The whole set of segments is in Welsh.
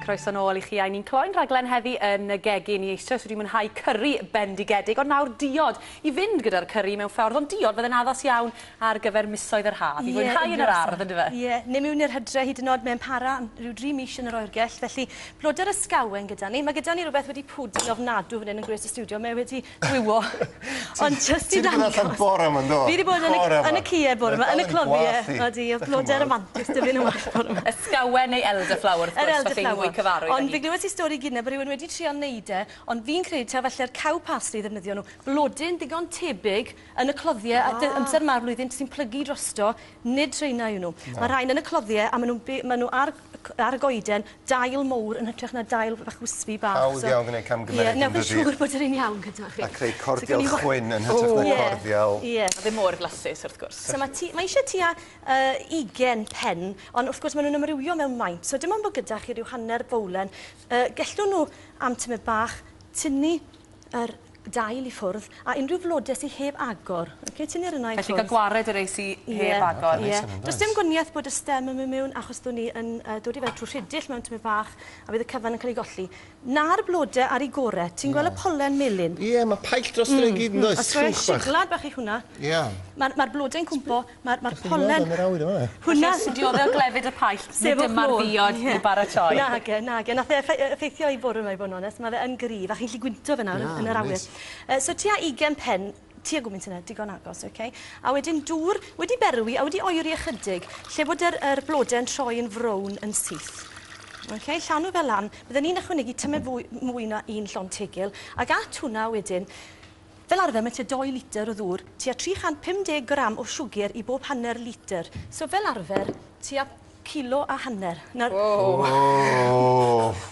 Croeso nôl i chi, a ni'n cloi'n rhaglen heddi yn y gegin. I eisoes wedi mwynhau cyrru bendigedig, ond nawr diod i fynd gyda'r cyrru mewn ffordd, ond diod fydd yn addas iawn ar gyfer misoedd yr haf. I fwynhau yn yr ardd, yn dyfa? Ie, ni mewn i'r hydre hyd yn oed, mae'n para am rhyw dri mis yn yr oergell, felly blodau'r ysgawen gyda ni. Mae gyda ni rhywbeth wedi pwdu ofnadw fan hyn yn gwres y studio. Mae wedi Gwywo. Ond jyst i ddangos... Ti 'di bod allan bore 'ma yndo? Fi 'di bod yn y yn y ceued bore 'ma, yn y cloddi. Odi, o'dd blode ramantus 'da fi yn y wal bore 'ma. Ysgawen neu elderflower wrth gwrs os chi'n fwy cyfarwydd â hi. Ond fi glywes i stori gynne bo' rywun wedi trial neud e, ond fi'n credu taw falle'r cow parsley i ddefnyddio nhw. Blodyn ddigon tebyg yn y cloddie a dy- amser 'ma'r flwyddyn sy'n plygu drosto, nid rheina yw nhw. Ma' rhain yn y cloddie a ma' nw'n by- ma' nw ar ar y goeden, dail mowr yn hytrach na dail bach wispy bach. Hawdd iawn gwneud camgymeriad yn dydi? Ie, newch chi siŵr bod yr un iawn gyda chi. A creu cordial chwyn yn hytrach na cordial... Ie, ie. Ddim mor flasus wrth gwrs. So mae eisiau tua 20 pen, ond wrth gwrs maen nhw'n ymrywio mewn maint, so dim ond bod gyda chi ryw hanner fowlen. Gellwn nhw am tymed bach tynnu yr dail i ffwrdd, a unrhyw flode sy heb agor. Oce, tynnu'r yna i ffwrdd. Felly cael gwared y rei sy heb agor. Ie, ie. Does dim gwanieth bod y stem yn mynd mewn achos dwn ni yn dod i fe trwy rhidill mewn tymed bach a bydd y cyfan yn cael ei golli. Na'r blode ar ei gore. Ti'n gweld y polen melyn? Ie, mae paill drosto fe i gyd, yn does? Oes, oes. Siglad bach yw hwnna. Ie. Mae'r blode'n cwmpo. Ma'r ma'r pollen... Hwnna sy'n diodde o glefyd y paillt, nid dyma'r ddiod i'w baratoi. Nage, nage. Nath e effe- yy effeithio i bwrw 'ma i bo' yn onest, ma' fe yn gryf a chi'n gallu gwynto fe nawr yn yr awyr. Yy so tua ugen pen, tua gwmint yna, digon agos, oce? A wedyn dŵr, wedi berwi a wedi oeri ychydig, lle bod yr yr blode yn troi yn frown yn syth. Oce? Llanw fe lan. Bydden i'n ychwanegu tymed fwy mwy na un llond tegil, ag at hwnna wedyn Fel arfer mae tua 2 litr o ddŵr, tua 350 gram o siwgr i bob hanner litr. So fel arfer, tua kilo a hanner. Nawr... Woww!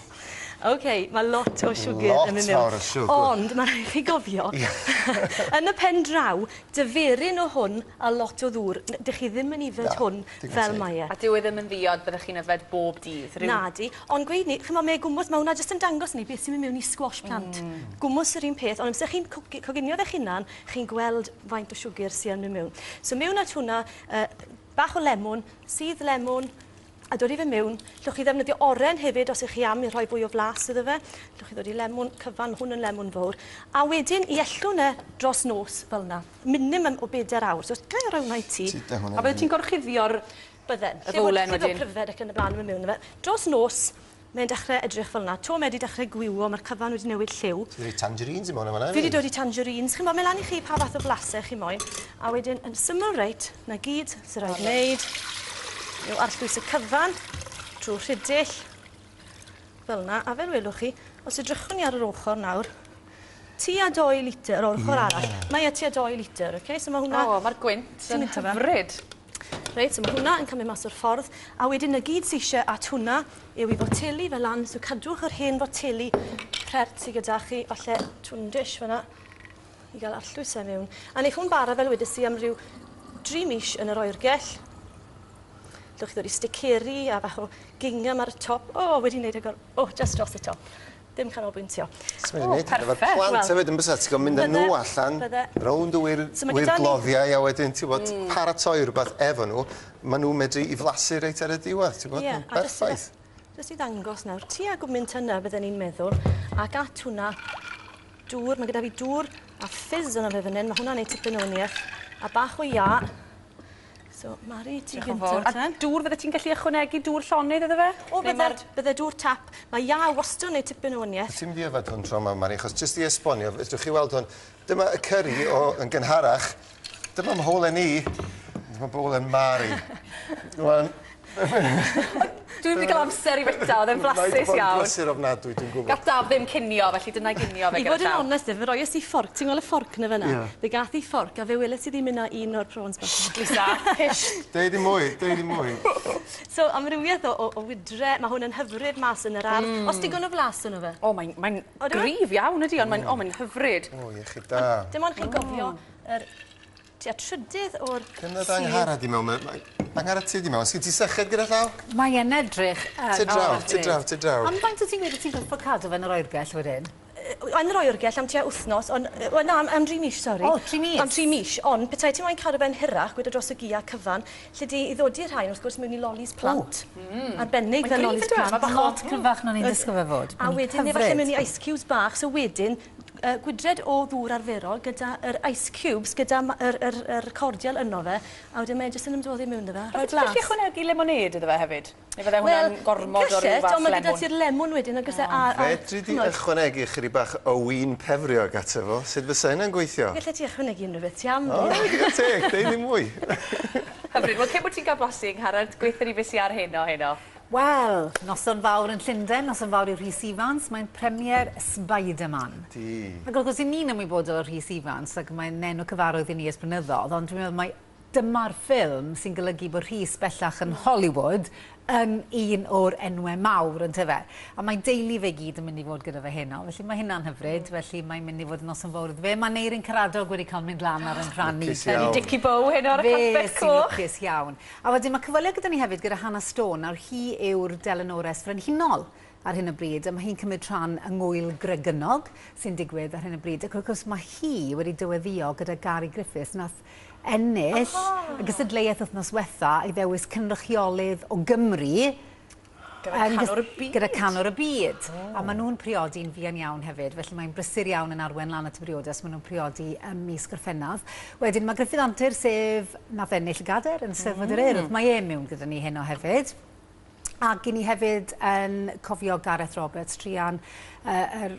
Ok, mae lot o siwgr yn mynd mewn. Lot fawr o siwgr. Ond mae rhaid i chi gofio, yn y pen draw, diferyn o hwn a lot o ddŵr, dych chi ddim yn yfed hwn fel mae e. A dyw e ddim yn ddiod, byddech chi'n yfed bob dydd, rhyw... Nadi. Ond gweud ni, ch'mo' mae gwmws, ma' hwnna jyst yn dangos ni beth sy'n mynd mewn i squash plant. Gwmws yr un peth, ond amser chi'n cwgi- coginio fe'ch hunan, chi'n gweld faint o siwgr sy yn myn' mewn. So mewn at hwnna, yy bach o lemwn, sudd lemwn, a dodi fe mewn. Llwch chi ddefnyddio oren hefyd os ych chi am i rhoi fwy o flas iddo fe. Llwch chi ddodi lemwn cyfan, ma' hwn yn lemwn fowr. A wedyn i ellwn e dros nos fel 'na. Minimum o beder awr. So os ga'i roi hwnna i ti. Ti 'da hwnna i fi. A wedyn ti'n gorchuddio'r Bydden. Lle bod lle bod pryfed ac yn y blaen yn mynd mewn i fe. Dros nos, mae'n dechrau edrych fel yna. 'to mae 'di dechrau gwywo, mae'r cyfan wedi newid lliw. Ti 'di rhoi tangerines i mewn yn fan'na hefyd. Fi 'di dod i tangerines. Chi'n 'bo, mae lan i chi pa fath o flasau chi moyn. A wedyn, yn syml reit, 'na gyd sy'n rhaid wneud yw arllwys y cyfan trwy rhidill, fel yna. A fel welwch chi, os edrychwn ni ar yr ochr nawr, tua 2 litr o'r ochr arall. Mae e tua 2 litr, oce? So mae hwnna... O, mae'r gwynt yn hyfryd. Reit, so mae hwnna yn cymryd mas o'r ffordd. A wedyn y gyd sy'n eisiau at hwnna yw i foteli fel lan. So cadwch yr hen foteli pert sydd gyda chi, falle twyn dish fyna i gael arllwys e mewn. A wneud hwn bara fel wedys i am ryw dri mis yn yr oergell. Dewch chi ddod i sticeri a bach o gingham ar y top. O, oh, wedi wneud agor. O, oh, just dros y top. Dim canolbwyntio. Swn i'n neud efo'r plant hefyd yn bysa, ti'n gwybod, mynd â nhw allan, rownd y wirgloddiau a wedyn, ti'n gwybod, paratoi rhywbeth efo nhw, maen nhw'n medru i flasu reit ar y diwedd, ti'n gwybod, yn berffaith. Jyst i ddangos nawr, ti a gwmynt yna, bydden ni'n meddwl, ac at hwnna, dŵr, mae gyda fi dŵr a ffizz yna fe fan hyn, mae hwnna'n ei tipyn o wniaeth, a bach o ia, So, Mari, ti gyntaf te. A dŵr, fydde ti'n gallu ychwanegu dŵr llonydd iddo fe? O, bydde, bydde dŵr tap. Mae ia wastad yn neud tipyn o wanieth. Ti'n mynd i yfed hwn tro yma, Mari, achos jyst i esbonio, fedrwch chi weld hwn. Dyma y cyrri o, yn gynharach. Dyma mholen i. Dyma bowlen Mari. Rwan, Dwi'm wedi cael amser i fita, oedd e'n flasus iawn. Mae 'di bod yn brysur ofnadwy, dwi'n gwybod. Gath Daf ddim cinio, felly dyna i ginio fe gyda llaw. I fod yn onest, fe roies i fforc, ti'n gweld y fforc yna fyna? Ie. Fe gath i fforc a fe weles i ddim un na un o'r prawns bach 'ma. Shh Lisa, hish! Deud dim mwy, deud dim mwy. So, amrywiaeth o o o wydre, ma' hwn yn hyfryd mas yn yr ardd. Oes digon o flas yno fe? O mae'n mae'n gryf iawn ydi ond mae'n o mae'n hyfryd. O iechyd da. Dim ond chi'n gofio yr Tua trydydd o'r sir. Dyna dy Angharad di mewn. Angharad ti di mewn. Sgyn ti syched gyda llaw? Mae e'n edrych yn Ti draw, ti draw, ti draw. Ond faint o ti'n gweud y ti'n gorfod cadw fe yn yr oergell wedyn? yn yr oergell am tua wythnos, ond... Wel na, am, am dri mis, sori. O, tri mis? Am tri mis, ond petai ti moyn cadw fe'n hirach, gwyd o dros y gia cyfan, lle di i ddodi rhain, wrth gwrs, mewn i lolis plant. O, mm. Arbennig fel lolis plant. Mae bach lot cryfach na ni'n disgwyl fe fod. A wedyn, neu falle mewn i ice cubes bach, so wedyn, yy gwydred o ddŵr arferol gyda yr ice cubes gyda ma- yr yr yr cordial yno fe a wedyn mae e jyst yn ymdoddi miwn 'da fe a rhoi blas. A wyt ti'n gallu ychwanegu lemonêd iddo fe hefyd? Neu fydde hwnna'n gormod o ryw fath lemwn? Wel gallet ond ma' gyda ti'r lemwn wedyn yn ogysau a a ch'mod. Fedri di ychwanegu ychydig bach o win pefriog ato fo? Sut fysa hynna'n gweithio? Gallet ti ychwanegu unrhyw beth ti am. O digon teg, deud ddim mwy. Hyfryd, wel cyn bo' ti'n ca'l blasu yng Ngharreg gweutho ni be' sy ar heno heno. Wel, noson fawr yn Llundain, noson fawr i Rhys Ifans, mae'n premiere Spiderman. Ydi. Ac wrth gwrs, i ni'n ymwybodol o Rhys Ifans, ac mae'n enw cyfarwydd i ni ers blynyddodd, ond dwi'n meddwl mai dyma'r ffilm sy'n golygu bod Rhys bellach yn Hollywood yn un o'r enwau mawr, ynte fe? A mae deulu fe i gyd yn mynd i fod gyda fe heno, felly mae hynna'n hyfryd, felly mae'n mynd i fod yn noson fawr iddo fe. Mae Neirin Caradog wedi cael mynd lan ar yn rhan i. Lwcus iawn. Wedi dici bow heno ar y carpet coch. Fe sy'n lwcus iawn. A wedyn ma' cyfweliad gyda ni hefyd gyda Hannah Stone, nawr hi yw'r delynores frenhinol ar hyn o bryd, a ma' hi'n cymryd rhan yng ngŵyl Gregynog sy'n digwydd ar hyn o bryd, ac wrth gwrs ma' hi wedi dyweddïo gyda Gary Griffiths nath ennill y gystadleuaeth wthnos wetha i ddewis cynrychiolydd o Gymru Gyda canwr y byd. Gyda canwr y byd. Oh. A maen nhw'n priodi'n fuan iawn hefyd, felly mae'n brysur iawn yn arwen lan at y briodas. Maen nhw'n priodi ym mis Gorffennaf. Wedyn mae Griffith Antur, sef nath ennill y gader yn Steddfod yr Urdd. Mm. Mae e mewn gyda ni heno hefyd. Ac i ni hefyd yn cofio Gareth Roberts, trian uh, er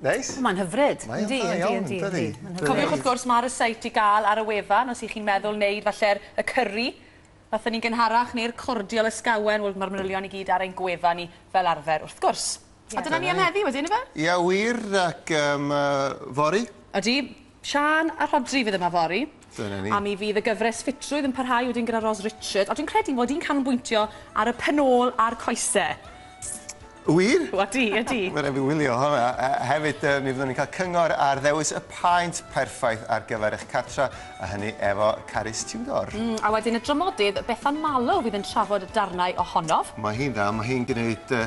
Neis. O, mae'n hyfryd. Mae'n dda iawn, dydi? Cofiwch wrth gwrs, mae'r ryseit i gael ar y wefan os y'ch chi'n meddwl wneud falle'r y cyrri, fatha ni'n gynharach, neu'r cordial ysgawen, wel mae'r manylion i gyd ar ein gwefan ni fel arfer wrth gwrs. A dyna ni am heddi wedyn ife? Ia wir ac yym yy fory. Ydi. Siân a Rhodri fydd yma fory. Dyna ni. A mi fydd y gyfres ffitrwydd yn parhau wedyn gyda Ros Richard, a dwi'n credu mod i'n canolbwyntio ar y pen ôl a'r coese. Wir? Odi, odi. Wel, rhaid fi wylio honna. A hefyd, yy, mi fyddwn ni'n cael cyngor ar ddewis y paent perffaith ar gyfer eich cartra, a hynny efo Carys Tudor. Mm, a wedyn y dramodydd Bethan Malo fydd yn trafod darnau ohonof. Mae hi'n dda, mae hi'n gwneud yy